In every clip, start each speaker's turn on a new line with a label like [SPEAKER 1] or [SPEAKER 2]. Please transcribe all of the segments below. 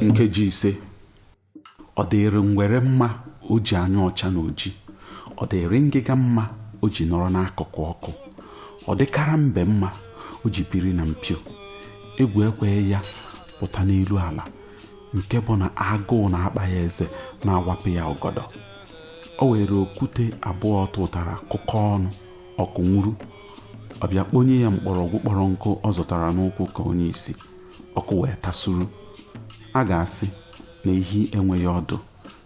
[SPEAKER 1] nkeji ise ọ dịrị ngwere mma o ji anyụ ọcha na oji ọ dịrị ngịga mma o ji nọrọ n'akụkụ ọkụ ọ dịkara mbe mma o ji biri na mpio egwu ekweghị ya pụta n'elu ala nke bụ na agụụ na-akpa ya eze na-awapụ ya ọgọdọ o were okwute abụọ ọ tụtara kụkọ ọnụ ọkụ nwuru ọ bịa kponye ya mkpọrọgwụ kpọrọ nkụ ọ zọtara n'ụkwụ ka onye isi ọkụ wee tasuru a ga-asị na ehi enweghị ọdụ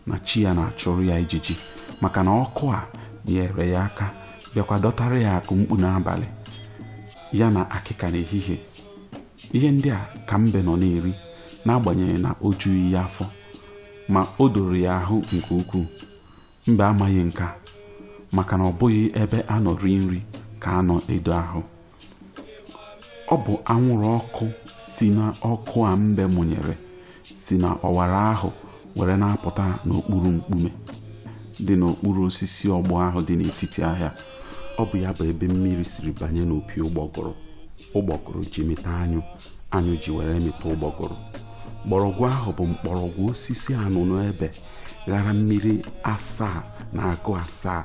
[SPEAKER 1] na chi ya na-achụrụ ya ijiji maka na ọkụ a nyere ya aka bịakwa dọtara ya akụ mkpu n'abalị ya na akịka n'ehihie ihe ndị a ka mbe nọ na-eri n'agbanyeghị na o jughị ya afọ ma o doro ya ahụ nke ukwuu mbe amaghị nke a maka na ọ bụghị ebe a nọ rie nri ka a nọ edo ahụ ọ bụ anwụrụ ọkụ si na ọkụ a mbe mụnyere si na ọwara ahụ were na-apụta n'okpuru mkpume dị n'okpuru osisi ọgbọ ahụ dị n'etiti ahịa ọ bụ ya bụ ebe mmiri siri banye n'opi ụgbọgụrụ ụgbọgụrụ ji mịta anyụ anyụ ji were mịta ụgbọgụrụ mgbọrọgwụ ahụ bụ mkpọrọgwụ osisi anụnụebe ghara mmiri asaa na agụ asaa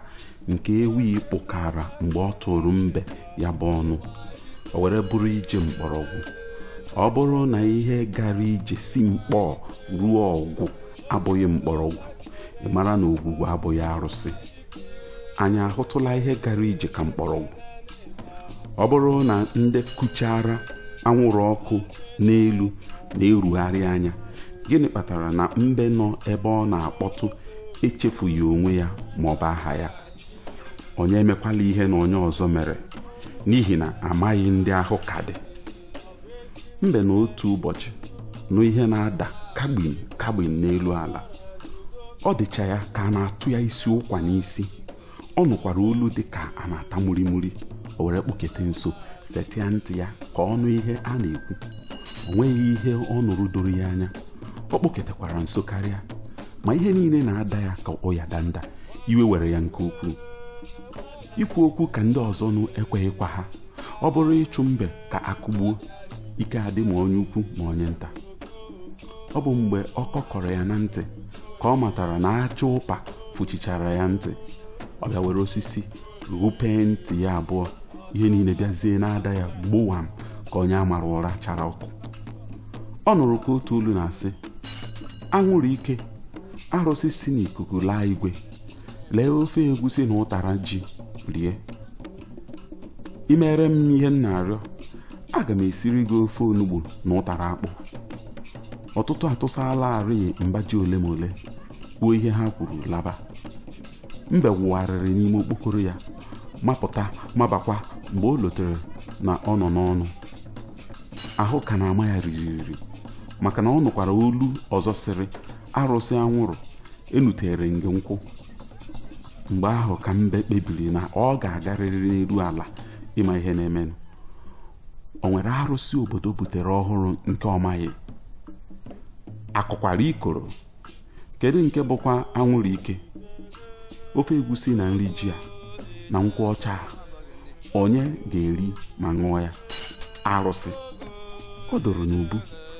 [SPEAKER 1] nke ewi kpụkara mgbe ọ tụrụ mbe ya bụ ọnụ o were bụrụ ije mkpọrọgwụ ọ bụrụ na ihe gara ije si mkpọ ruo ọgwụ abụghị mkpọrọgwụ ị mara na ogwugwu abụghị arụsị anyị ahụtụla ihe gara ije ka mkpọrọgwụ ọ bụrụ na ndị kuchara anwụrụ ọkụ n'elu na-erugharị anya gịnị kpatara na mbe nọ ebe ọ na-akpọtụ echefughị onwe ya ma ọ bụ aha ya onye emekwala ihe na onye ọzọ mere n'ihi na amaghị ndị ahụ ka dị mbe na otu ụbọchị nụ ihe na-ada kagbin kagbin n'elu ala ọ dịcha ya ka a na-atụ ya isi ụkwa n'isi ọ nụkwara olu dị ka a na-ata murimuri o were kpụkete nso setịa ntị ya ka ọ nụ ihe a na-ekwu o nweghị ihe ọ nụrụ doro ya anya ọ kpụketekwara nso karịa ma ihe niile na-ada ya ka ụya danda iwe were ya nke ukwuu ikwu okwu ka ndị ọzọ nụ ekweghịkwa ha ọ bụrụ ịchụ mbe ka a kụgbuo ike adị ma onye ukwu ma onye nta ọ bụ mgbe ọ kọkọrọ ya na ntị ka ọ matara na aja ụpa fụchichara ya ntị ọ bịa were osisi ghụpee ntị ya abụọ ihe niile bịazie na-ada ya gbowam ka onye a mara ụra chara ọkụ ọ nụrụ ka otu olu na-asị anwụrụ ike arụsị si n'ikuku laa igwe lee ofe egwusi na ụtara ji rie i mere m ihe m na-arịọ aga m esiri gị ofe onugbu na ụtara akpụ ọtụtụ atụsala arị mbaji ole ma ole kwuo ihe ha kwuru laba mbe wụgharịrị n'ime okpokoro ya mapụta mabakwa mgbe o lotere na ọ nọ n'ọnụ ahụ ka na-ama ya ririri maka na ọ nụkwara olu ọzọ sịrị arụsị anwụrụ enutere nge nkwụ mgbe ahụ ka mbe kpebiri na ọ ga-agarịrị n'elu ala ịma ihe na-emenụ o nwere arụsị obodo butere ọhụrụ nke ọ maghị akụkwara ikoro kedu nke bụkwa anwụrụ ike ofe egwusi na nri ji a na nkwụ ọcha a, onye ga-eri ma ṅụọ ya arụsị o doro n'ubu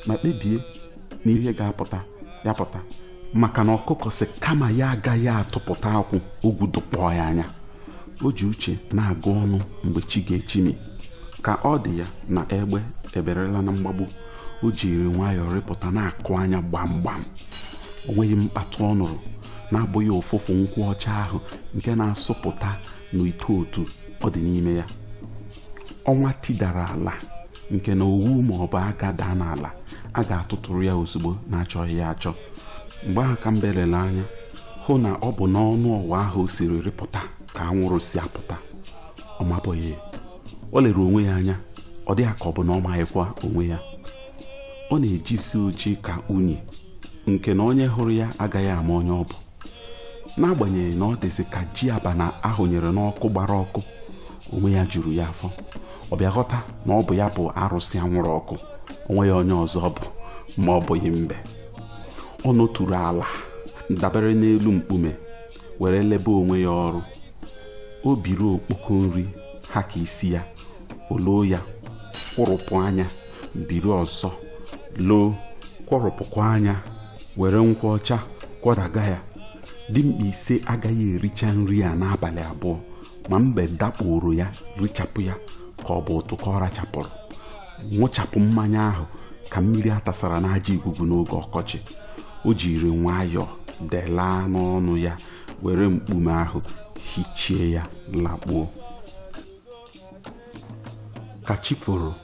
[SPEAKER 1] ma kpebie na ihe ga-apụta ya pụta maka na ọkụkọ sị kama ya agaghị atụpụta akwụ ogwu dụkpọọ ya anya o ji uche na-agụ ọnụ mgbe chi ga-echimi ka ọ dị ya na egbe eberela na mgbagbu o jiri nwayọọ rịpụta na-akụ anya gbam gbam o nweghị mkpatụ ọ nụrụ na-abụghị ụfụfụ nkwụ ọcha ahụ nke na-asụpụta n'ite otu ọ dị n'ime ya ọnwa tidara ala nke na owu ma ọ bụ aga daa n'ala a ga-atụtụrụ ya ozugbo na-achọghị ya achọ mgbe ahụ ka mbe lere anya hụ na ọ bụ n'ọnụ ọwa ahụ o siri rịpụta ka anwụrụ si apụta ọ mabụghị o lere onwe ya anya ọ dị ya ka ọ bụ na ọ maghịkwa onwe ya ọ na-ejisi oji ka unyi nke na onye hụrụ ya agaghị ama onye ọ bụ n'agbanyeghị na ọ dịzị ka ji abana ahụnyere n'ọkụ gbara ọkụ onwe ya juru ya afọ ọ bịa ghọta na ọ bụ ya bụ arụsị anwụrụ ọkụ o nweghị onye ọzọ bụ ma ọ bụghị mbe ọ nọturu ala dabere n'elu mkpume were lebe onwe ya ọrụ o biri okpoko nri ha ka isi ya o loo ya kwụrụpụ anya biri ọzọ loo kwụrụpụkwa anya were nkwụ ọcha kwọdaga ya dimkpa ise agaghị ericha nri a n'abalị abụọ ma mbe dakporo ya richapụ ya ka ọ bụ ụtụ ka ọ rachapụrụ nwụchapụ mmanya ahụ ka mmiri atasara n'aja igugu n'oge ọkọchị o jiri nwayọọ delaa n'ọnụ ya were mkpume ahụ hichie ya lakpuo ka chi foro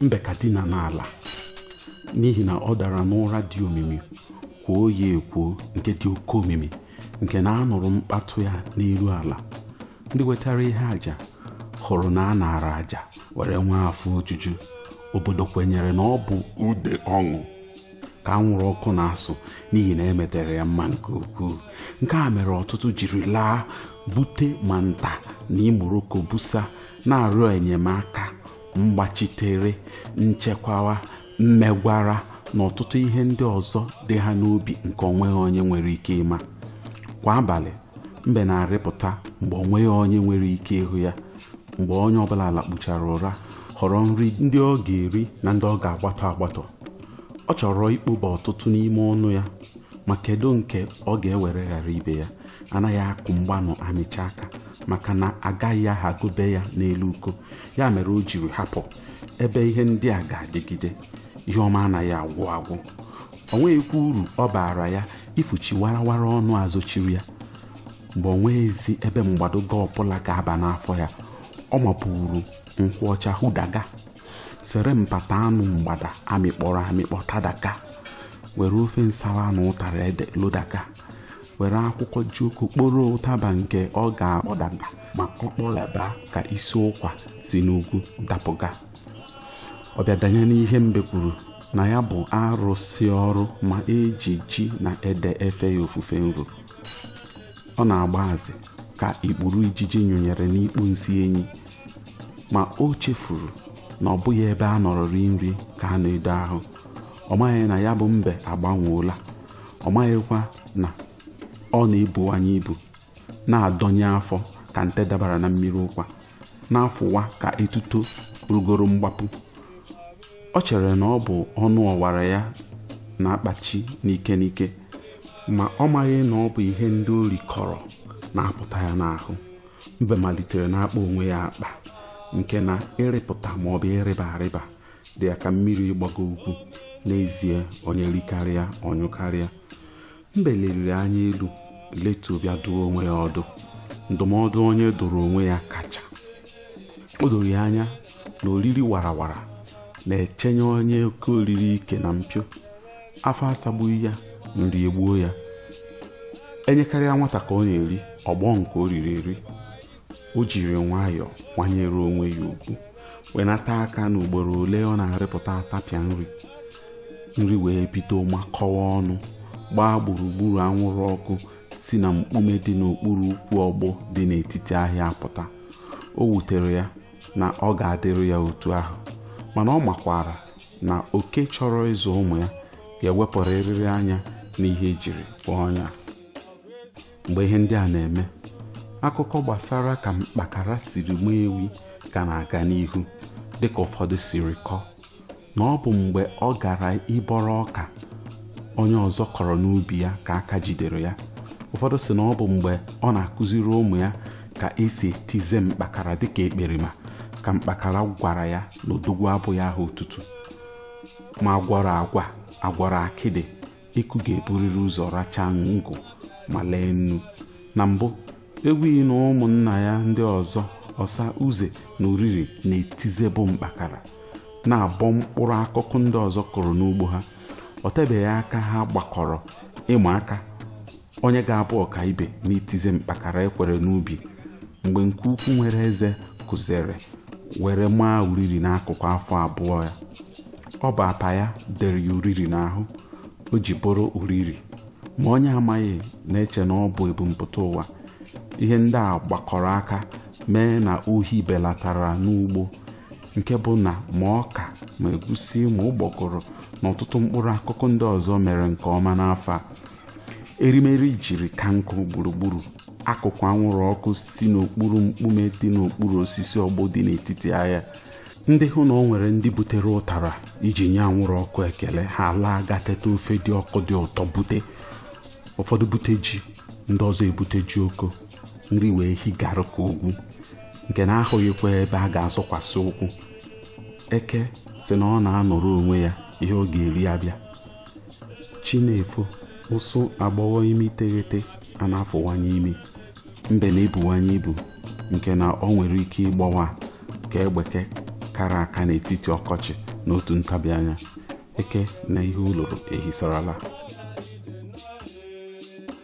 [SPEAKER 1] mbe ka dina n'ala n'ihi na ọ dara n'ụra dị omimi kwuo ya ekwuo nke dị oke omimi nke na anụrụ mkpatụ ya n'elu ala ndị wetara ihe aja hụrụ na a naara aja were nwee afọ ojuju obodo kwenyere na ọ bụ ude ọṅụ ka anwụrụ ọkụ na-asụ n'ihi na emetere ya mma nke ukwuu nke a mere ọtụtụ jiri laa bute ma nta na imo roko busa na-arịọ enyemaka mgbachitere nchekwawa mmegwara na ọtụtụ ihe ndị ọzọ dị ha n'obi nke onweghị onye nwere ike ịma kwa abalị mbe na-arịpụta mgbe onweghị onye nwere ike ịhụ ya mgbe onye ọbụla lakpuchara ụra họrọ nri ndị ọ ga-eri na ndị ọ ga-agbatọ agbatọ ọ chọrọ ikpoba ọtụtụ n'ime ọnụ ya ma kedu nke ọ ga-ewere ghara ibe ya anaghị akụ mgbanụ amịcha aka maka na agaghị ahagobe ya n'elu uko ya mere o jiri hapụ ebe ihe ndị a ga-adịgide ihe ọma anaghị agwụ agwụ o nweghịkwa uru ọ baara ya ifuchi warawara ọnụ azochiri ya mgbe o nweghịzi ebe mgbadoga ọbụla ga-aba n'afọ ya ọ mapụrụ nkwụ ọcha ṅụdaga sere mpata anụ mgbada amịkpọrọ amịkpọ tadaga were ofe nsala na ụtara ede lodaga were akwụkwọ jioko kporo ụtaba nke ọ ga-akpọdaga ma ọ kpọlaba ka isi ụkwa si n'ugwu dapụga ọ bịa danye n'ihe mbe kwuru na ya bụ arụsị ọrụ ma eji ji na ede efe ya ofufe nro ọ na-agba azị ka ikpuru ijiji nyụnyere n'ikpu nsị enyi ma o chefuru na ọ bụghị ebe a nọrọ rie nri ka a na-edo ahụ ọ maghị na ya bụ mbe agbanweola ọ maghịkwa na ọ na-ebuwanye ibu na-adọnye afọ ka nte dabara na mmiri ụkwa na-afụwa ka etuto rugoro mgbapụ o chere na ọ bụ ọnụ ọwara ya na-akpachi n'ike n'ike ma ọ maghị na ọ bụ ihe ndị o rikọrọ na-apụta ya n'ahụ mbe malitere na-akpa onwe ya akpa nke na ịrịpụta maọbụ ịrịba arịba dị ya ka mmiri ịgbago ugwu n'ezie onye rikarịa ọ nyụkarịa mbe leliri anya elu letu bịa dụọ onwe ya ọdụ ndụmọdụ onye dụrụ onwe ya kacha o doro ya anya na oriri warawara na-echenye onye oke oriri ike na mpio afọ asagbughị ya nri egbuo ya enyekarịa nwata ka ọ na-eri ọ gbọọ nke o riri eri o jiri nwayọọ kwanyere onwe ya ugwu wenata aka n'ugboro ole ọ na-arịpụta atapịa nri wee bido makọwa ọnụ gbaa gburugburu anwụrụ ọkụ si na mkpume dị n'okpuru ukwu ọgbụ dị n'etiti ahịa apụta o wutere ya na ọ ga-adịrị ya otu ahụ mana ọ makwara na oke chọrọ ịzụ ụmụ ya ga-ewepụrịrị anya n'ihe ejiri kpọọ ọnya mgbe ihe ndị a na-eme akụkọ gbasara ka mkpakara siri maa ewi ka na-aga n'ihu dịka ụfọdụ siri kọọ na ọ bụ mgbe ọ gara ịbọrọ ọka onye ọzọ kọrọ n'ubi ya ka aka jidere ya ụfọdụ si na ọ bụ mgbe ọ na-akụziri ụmụ ya ka esi etize mkpakara dịka ekperima ka mkpakara gwara ya na odogwu abụghị aha otutu ma agwọrọ agwa agwọrọ akịdị eku ga-eburịrị ụzọ racha ngụ ma lee nnu na mbụ ewi na ụmụnna ya ndị ọzọ ọsa uze na uriri na-etizebụ mkpakara na-abọ mkpụrụ akụkụ ndị ọzọ kụrụ n'ugbo ha ọ tebeghị aka ha gbakọrọ ịma aka onye ga-abụ ọkaibe n'itize mkpakara ekwere n'ubi mgbe nke ukwu nwere eze kụzere were maa uriri n'akụkụ afọ abụọ ya ọ bụ apa ya dere ya uriri n'ahụ o ji bụrụ uriri ma onye amaghị na-eche na ọ bụ ebumpụta ụwa ihe ndị a gbakọrọ aka mee na ohi belatara n'ugbo nke bụ na ma ọka ma egusi ma ụgbọgụrụ na ọtụtụ mkpụrụ akụkụ ndị ọzọ mere nke ọma n'afọ a erimeri jiri ka nkụ gburugburu akụkụ anwụrụ ọkụ si n'okpuru mkpume dị n'okpuru osisi ọgbụ dị n'etiti ahịa ndị hụ na o nwere ndị butere ụtara iji nye anwụrụ ọkụ ekele ha laa gaa teta ofe dị ọkụ dị ụtọ bute ụfọdụ bute ji ndị ọzọ ebute jioko nri wee higarụ ka ugwu nke na ahụghịkwa ebe a ga-azọkwasị ụkwụ eke si na ọ na-anọrọ onwe ya ihe ọ ga-eri abịa chi na-efo ụsụ agbọghọ imi iteghete a na-afụwanye imi mbe na-ebuwanye ibu nke na o nwere ike ịgbawa ka egbeke kara aka n'etiti ọkọchị n'otu ntabi anya eke na ihe o loro ehisarala